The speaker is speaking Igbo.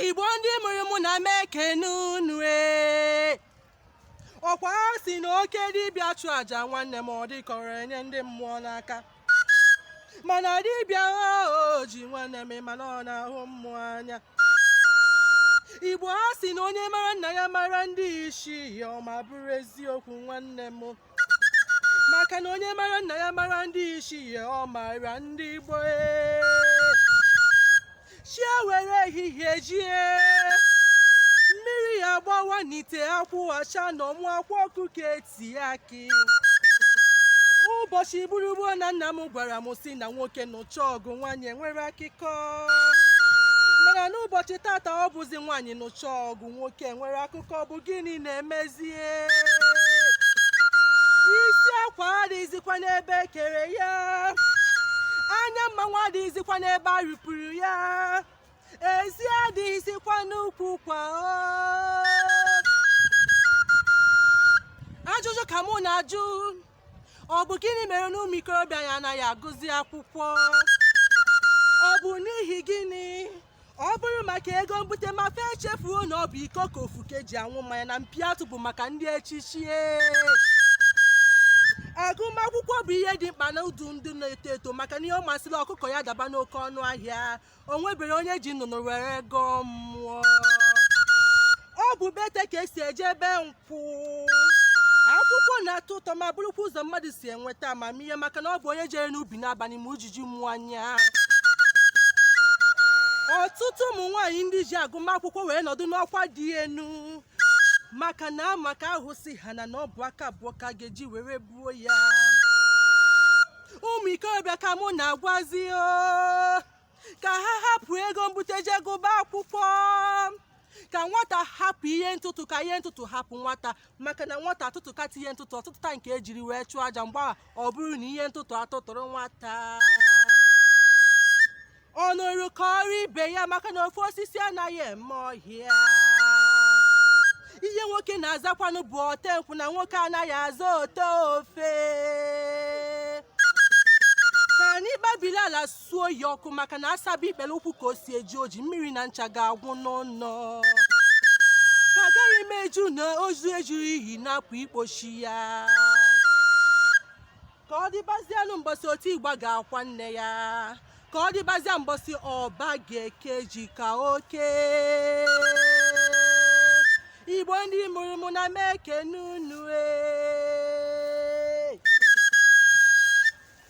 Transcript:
igbo ndị mụrụ mụ ana m ekene unu ee ọkwa ha sị na oke dibịa chụọ aja nwanne m ọ dịkọrọ enye ndị mmụọ n'aka mana dibịa o ji nwanne m mana ọ na-ahụ mmụọ anya igbo ha sị na onye mara nna ya mara ndị ichie ọ ma bụrụ eziokwu nwanne m maka na onye mara nna ya mara ndị ichie ọ mara ndị gboo ee. chi ewere ehihie jie mmiri agbawa n'ite akwụ achaa n'ọmụ akwa ọkụkọ etie akị ụbọchị gboo gboo na nna m gwara m sị na nwoke nụcha ọgụ nwaanyị enwere akụkọ mana n'ụbọchị tata ọ bụzi nwaanyị nụcha ọgụ nwoke enwere akụkọ ọ bụ gịnị na-emezie isi akwa adịghịzikwa n'ebe e kere ya anya mmanwụ adịghịzikwa n'ebe a rụpụrụ ya ezi adịghịzikwa n'ukwu ụkwa o. ajụjụ ka mụ na-ajụ ọ bụ gịnị mere na ụmụ ikorobịa anyị anaghị agụzi akwụkwọ ọ bụ n'ihi gịnị ọ bụrụ maka ego mbute ma fa echefuo na ọ bụ iko ka ofeke ji anwụ mmanya na mpi atụ bụ maka ndị echichi agụmakwụkwọ bụ ihe dị mkpa na ndụ ndị na-eto eto maka na ihe ọ masịrị ọkụkọ ya daba n'oke ọnụ ahịa o nwebere onye ji nnụnụ were gọọ mmụọ ọ bụ be ete ka e si eje be nkwụ akwụkwọ na-atọ ụtọ ma bụrụkwa ụzọ mmadụ si enweta amamihe maka na ọ bụ onye jere n'ubi n'abalị ma ujiji mmụọ anya ọtụtụ ụmụ nwaanyị ndị ji agụmakwụkwọ wee nọdụ n'ọkwa dị elu maka na a ma ka ahụ si ha na na ọ bụ aka abụọ ka a ga-eji were buo ya ụmụ ikorobịa ka mụ na-agwazi o ka ha hapụ ego mbute jee gụba akwụkwọ ka nwata hapụ ihe ntụtụ ka ihe ntụtụ hapụ nwata maka na nwata atụtụkata ihe ntụtụ ọ tụtụta nke e jiri wee chụọ aja mgbe a ọ bụrụ na ihe ntụtụ atụtụrụ nwata ọ nụrụ kọọrọ ibe ya maka na ofu osisi anaghị eme ọhịa ihe nwoke na-azakwanụ bụ ote nkwụ na nwoke anaghị aza ote ofe ka anyị gbabiri ala suo ya ọkụ maka na a saba ikpere ụkwụ ka o si eji oji mmiri na ncha ga-agwụ n'ụnọ ka agaghị m eji na ozu ejurọ ini hapụ ikpochi ya ka ọ dịbazianụ mbọsị oti ịgba ga-akwa nne ya ka ọ dịbazia mbọsị ọba ga-eke ji ka o kee igbo ndị mụrụ mụ na m ekene unu ee